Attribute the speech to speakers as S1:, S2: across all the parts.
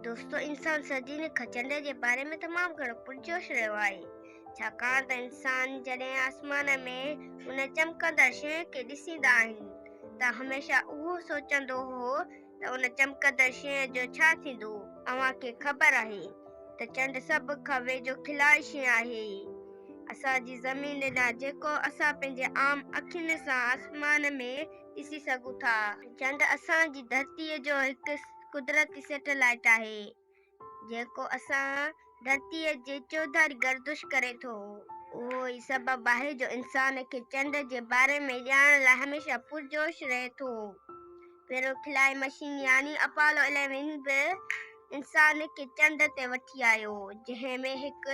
S1: دوستو انسان سردي ۾ کچنڊ جي باري ۾ تمام گھڻو پرجوش رهيو آهي ڇاڪاڻ ته انسان جڏهن آسمان ۾ ان چمڪندڙ شيء کي ڏسيندا آهن ته هميشه اهو سوچندو هو ته ان چمڪندڙ شيء جو ڇا ٿيندو اوهان کي خبر آهي ته چنڊ سڀ کان ويجھو کلائي شيء آهي اسان جي زمين ڏانهن جيڪو اسان پنهنجي عام اکين سان آسمان ۾ ڏسي سگهون ٿا. چنڊ اسان جي ڌرتيء جو هڪ قدرتي سيٽلائيٽ آهي، جيڪو اسان ڌرتيء جي چوڌاري گردش ڪري ٿو. اهو ئي سبب آهي جو انسان کي چنڊ جي باري ۾ ڄاڻڻ لاء هميشه پرجوش رهي ٿو. پهريون خلائي مشين يعني اپالو اليون به انسان کي چنڊ تي وٺي آيو، جنهن ۾ هڪ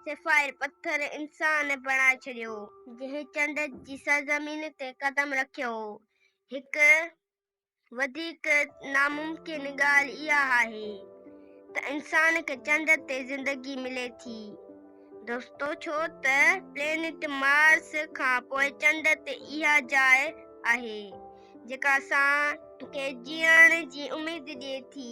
S1: سفائر پٿر انسان بڻائي ڇڏيو هو. جنهن چنڊ جي سرزمين تي قدم رکيو هو. هڪ وڌيڪ ناممڪن ڳالهه اها آهي ته انسان کي چنڊ تي زندگي ملي ٿي دوستو ڇو ته پلينيٽ مارس کان پوء چنڊ تي اها جاء آهي جيڪا اسان کي جيئڻ جي اميد ڏئي ٿي.